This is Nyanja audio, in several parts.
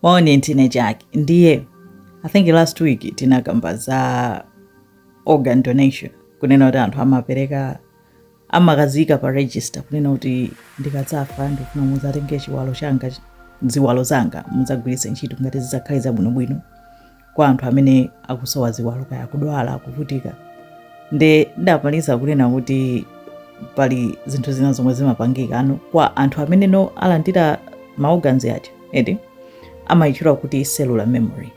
moni ntine chake ndiye i think last week tinakamba za organ donation kunena kuti anthu amapereka amakazika pa register kunena kuti ndikadzafa ndikufuna mudzatenge chiwalo changa ziwalo zanga mudzagwiritse ntchito ngati zidzakhale zabwinobwino kwa anthu amene akusowa ziwalo kaya akudwala akuvutika nde ndamaliza kunena kuti pali zinthu zina zomwe zimapangika ano kwa anthu amene alandira ma organs aja eti amayitchula kuti cellular memory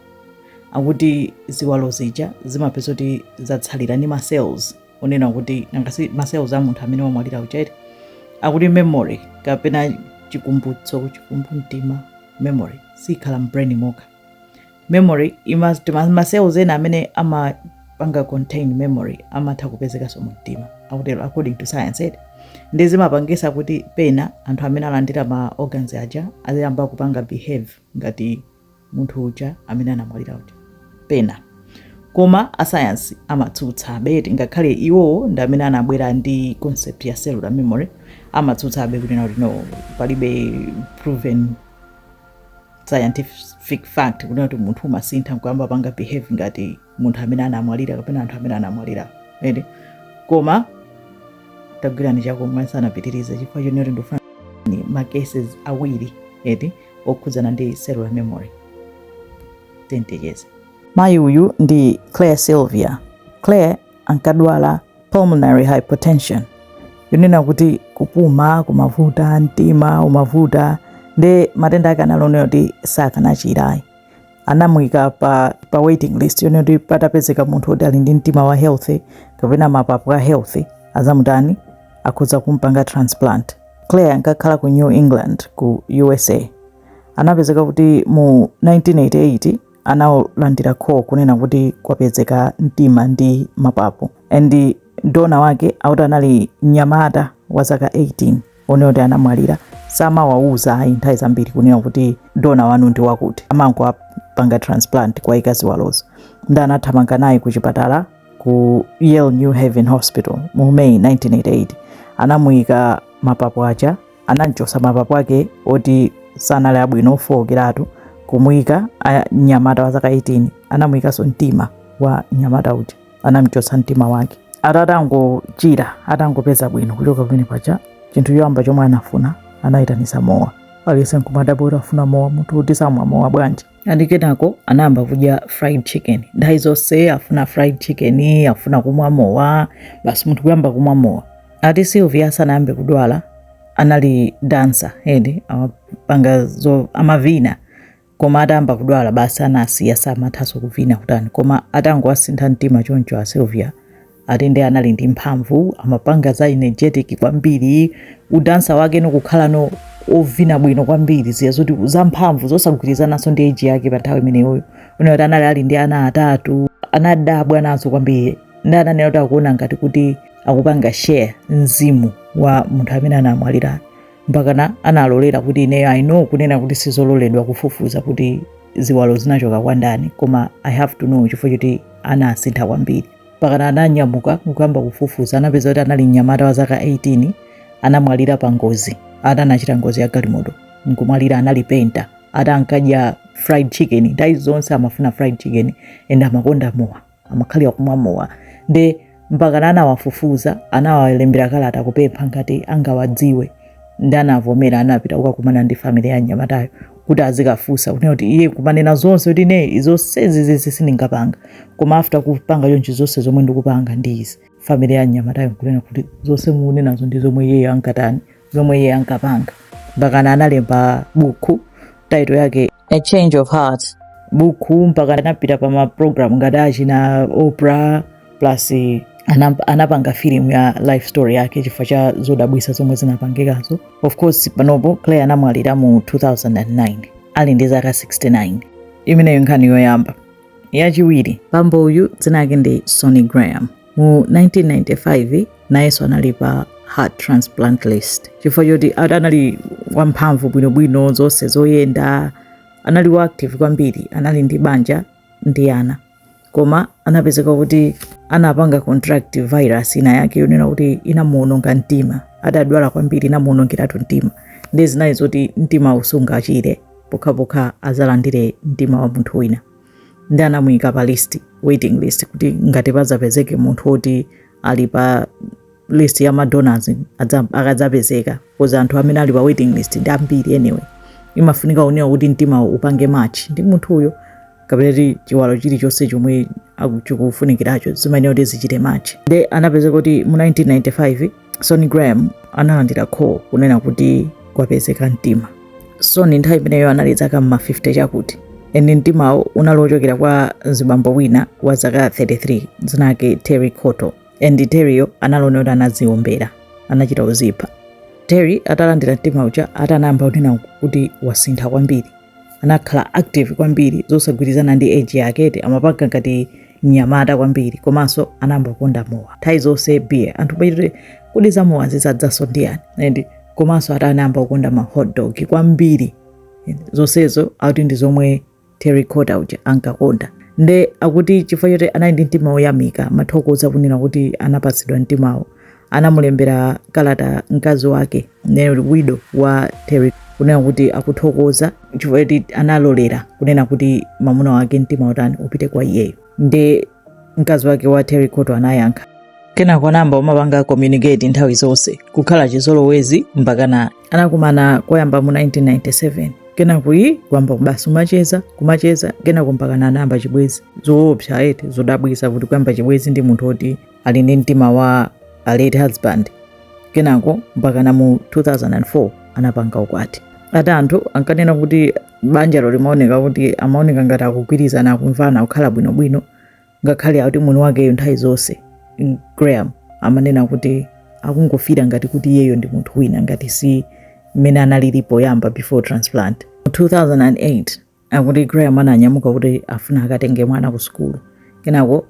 akuti ziwalo zija zimapezeka kuti zatsalira ndi macells onena kuti nangasi macells a munthu amene wamwalira uja eti akuti memory kapena chikumbutso chikumbumtima memory sikhala mu brain mokha memory ima- tima- ma cells ena amene amapanga contain memory amatha kupezekanso mu mtima akutero according to science eti nde zimapangisa kuti pena anthu amene alandira ma organs aja aziyamba kupanga behave ngati munthu uja amene anamwalira uja pena koma asayansi amatsutsabe eti ngakhale iwowo ndi amene anabwera ndi concept ya cellular memory amatsutsabe kunena kuti no palibe proven scientific fact kunena kuti munthu umasintha nkuyamba kupanga behave ngati munthu amene anamwalira kapena anthu amene anamwalira eti koma tagwirani chakumwa tisanapitirize chifukwa chonena kuti ndikufuna ni ma cases awiri eti okhudzana ndi cellular memory tiyeni ticheze mayi uyu ndi claire sylvia claire ankadwala pulmonary hypertension yonena kuti kupuma kumavuta mtima umavuta nde matenda ake anali onena kuti sakanachira ayi anamuyika pa, pa waiting list yonena kuti patapezeka munthu woti ali ndi mtima wa healthy kapena mapapu a healthy azamutani akhoza kumpanga transplant claire ankakhala ku new england ku usa anapezeka kuti mu 1988 analandira call kunena kuti kwapezeka mtima ndi mapapo and donor wake akuti anali mnyamata wa zaka 18 onena kuti anamwalira samawauza ayi nthawi zambiri kunena kuti donor wanu ndi wakuti amangowapanga transplant kuwayika ziwalozo nde anathamanga naye ku chipatala ku Yale New Haven Hospital mu May 1988 anamuyika mapapo aja anamchosa mapapo ake oti sanali abwino ofookeratu kumuyika a mnyamata wa zaka 18 anamuyikanso mtima wa mnyamata uja anamchotsa mtima wake ati atangochira atangopeza bwino kuchoka pamene paja chinthu choyamba chomwe anafuna anayitanisa mowa aliyense nkumadabwa kuti afuna mowa munthu woti samwa mowa bwanji andi kenako anayamba kudya fried chicken nthawi zonse afuna fried chicken afuna kumwa mowa basi munthu kuyamba kumwa mowa ati sylvia sanayambe kudwala anali dansa and amapanga zo amavina koma atayamba kudwala basi anasiya samathanso kuvina kutani koma atangowasintha mtima choncho a sylvia ati nde anali ndi mphamvu amapanga za energetic kwambiri udansa wake ndi kukhalano ovina bwino kwambiri zija zoti za mphamvu zosagwirizananso ndi age yake pa nthawi imeneyoyo unayo kuti anali ali ndi ana atatu anadabwa nazo kwambiri ndi ananena kuti akuona ngati kuti akupanga share mzimu wa munthu amene anamwalira mpakana analolera kuti ineyo i know kunena kuti sizololedwa kufufuza kuti ziwalo zinachoka kwa ndani koma i have to know chifukwa choti anasintha kwambiri mpakana ananyamuka nkuyamba kufufuza anapeza kuti anali mnyamata wa zaka 18 anamwalira pa ngozi ati anachita ngozi ya galimoto nkumwalira anali penta ati ankadya fried chicken nthawi zonse amafuna fried chicken and amakonda mowa amakhalira kumwa mowa nde mpakana anawafufuza anawalembera kalata kupempha ngati angawadziwe ndi anavomera anapita kukakumana ndi family ya mnyamatayo kuti azikafunsa kunena kuti iye kumanena zonse kuti ine zonse izizi sindinkapanga koma after kupanga chonchi zonse zomwe ndikupanga ndi izi family ya mnyamatayo nkunena kuti zonse mukunenazo ndi zomwe iyeyo ankatani zomwe iye ankapanga mpakana analemba buku title yake a change of heart buku mpaka anapita pa maprogram ngati achina oprah plus anap- anapanga filimu ya life story yake chifukwa cha zodabwitsa zomwe zinapangikazo of course panopo claire anamwalira mu 2009 ali ndi zaka 69 imeneyo nkhani yoyamba yachiwiri bambo uyu dzina lake ndi sonny graham mu 1995 nayenso anali pa heart transplant list chifukwa choti ad- anali wamphamvu bwinobwino zonse zoyenda anali wa active kwambiri anali ndi banja ndi ana koma anapezeka kuti anapanga contract virus ina yake yonena kuti inamuononga mtima adadwala kwambiri inamuonongeratu mtima ndiye zinali zoti mtima sungachire pokhapokha adzalandire mtima wa munthu wina ndi anamuyika pa list waiting list kuti ngati padzapezeke munthu woti ali pa list ya madonors akadzapezeka coz anthu amene ali pa waiting list ndi ambiri anyway imafunika kunena kuti mtima upange match ndi munthu uyo kapena ti chiwalo chilichonse chomwe chikufunikiracho zimayenera kuti zichite match nde anapezeka kuti mu 1995 sonny graham analandira call kunena kuti kwapezeka mtima sonny nthawi imeneyo anali zaka mma 50 chakuti and mtimawo unali wochokera kwa mzibambo wina wa zaka 33 dzina lake terry cottle and Terryyo analinso woti anadziombera anachita uzipha Terry atalandira mtima uja ati anayamba kunena kuti wasintha kwambiri anakhala active kwambiri zosagwirizana ndi age yake eti amapanga ngati mnyamata kwambiri komanso anayamba kukonda mowa nthawi zonse beer anthu kuchita kuti kodi za mowa zadzanso ndi yani and komanso ati anayamba kukonda ma hot dog kwambiri zonsezo akuti ndi zomwe terry cottle uja ankakonda nde akuti chifukwa choti anali ndi mtima woyamika mathokoza kunena kuti anapatsidwa mtimawo anamulembera kalata mkazi wake widow wa terry kunena kuti akuthokoza chifukwa choti analolera kunena kuti mamuna wake mtimawo utani upite kwa iyeyo nde mkazi wake wa terry cottle anayankha kenako anayamba umapanga communicate nthawi zonse kukhala chizolowezi mpakana anakumana koyamba mu 1997 kenako ii kuyamba basi umacheza kumacheza kenako mpakana anayamba chibwezi zoopsa eti zodabwisa kuti kuyamba chibwezi ndi munthu oti ali ndi mtima wa a late husband kenako mpakana mu 2004 anapanga ukwati ati anthu ankanena kuti banjalo limaoneka kuti amaoneka ngati akugwirizana akumvana kukhala bwinobwino ngakhale akuti mwini wakeyo nthawi zonse mm, graham amanena kuti akungofira ngati kuti iyeyo ndi munthu wina ngati si mmene analili poyamba before transplant mu 2008 Akuti Graham ananyamuka kuti afuna akatenge mwana ku sukulu, kenako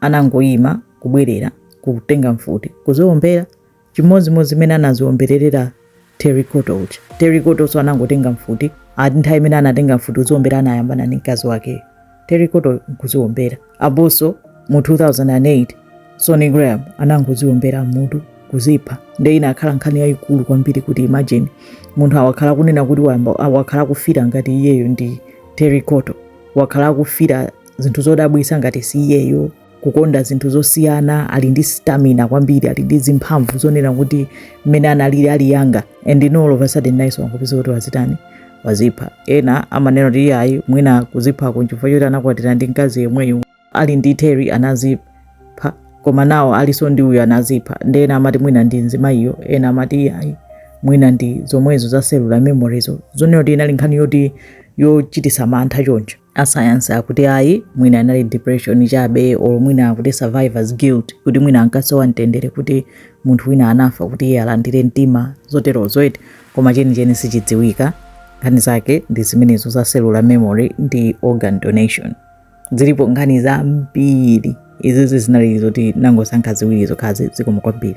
anangoyima kubwerera kutenga mfuti kuziombera chimodzimodzi mmene anaziomberera Terry Cottle uja. Terry Cottlenso anangotenga mfuti ati nthawi imene anatenga mfuti kuziombera anayambana ndi mkazi wakeyo Terry Cottle nkuziombera. aponso mu 2008 Sonny Graham anangoziwombera m'mutu kuzipha nde inakhala nkhani yayikulu kwambiri kuti imagine munthu wakhala akunena kuti wayamba wakhala akufira ngati iyeyo ndi Terry Cottle wakhala akufira zinthu zodabwisa ngati si iyeyo kukonda zinthu zosiyana ali ndi stamina kwambiri ali ndi zimphamvu zonena kuti mmene analili ali younger and then all of a sudden nayenso wangopezeka kuti wazitani wazipha ena amanena kuti iyayi mwina kuziphako nchifukwa choti anakwatira ndi mkazi yemweyo ali ndi Terry anazipha koma now aliso ndi uyu anazipha nde ena amati mwina ndi mzimayiyo ena amati iyayi mwina ndi zomwezo za cellular memoryzo zonena kuti inali nkhani yoti yochitisa mantha choncho asayansi akuti ayi mwina inali depression chabe or mwina akuti survivors guilt kuti mwina ankasowa mtendere kuti munthu wina anafa kuti iye alandire mtima zoterozo eti koma chenicheni sichidziwika nkhani zake ndi zimenezo za cellular memory ndi organ donation zilipo nkhani zambiri izizi zinali zoti nangosankha ziwiri zokhazi zikomo kwambiri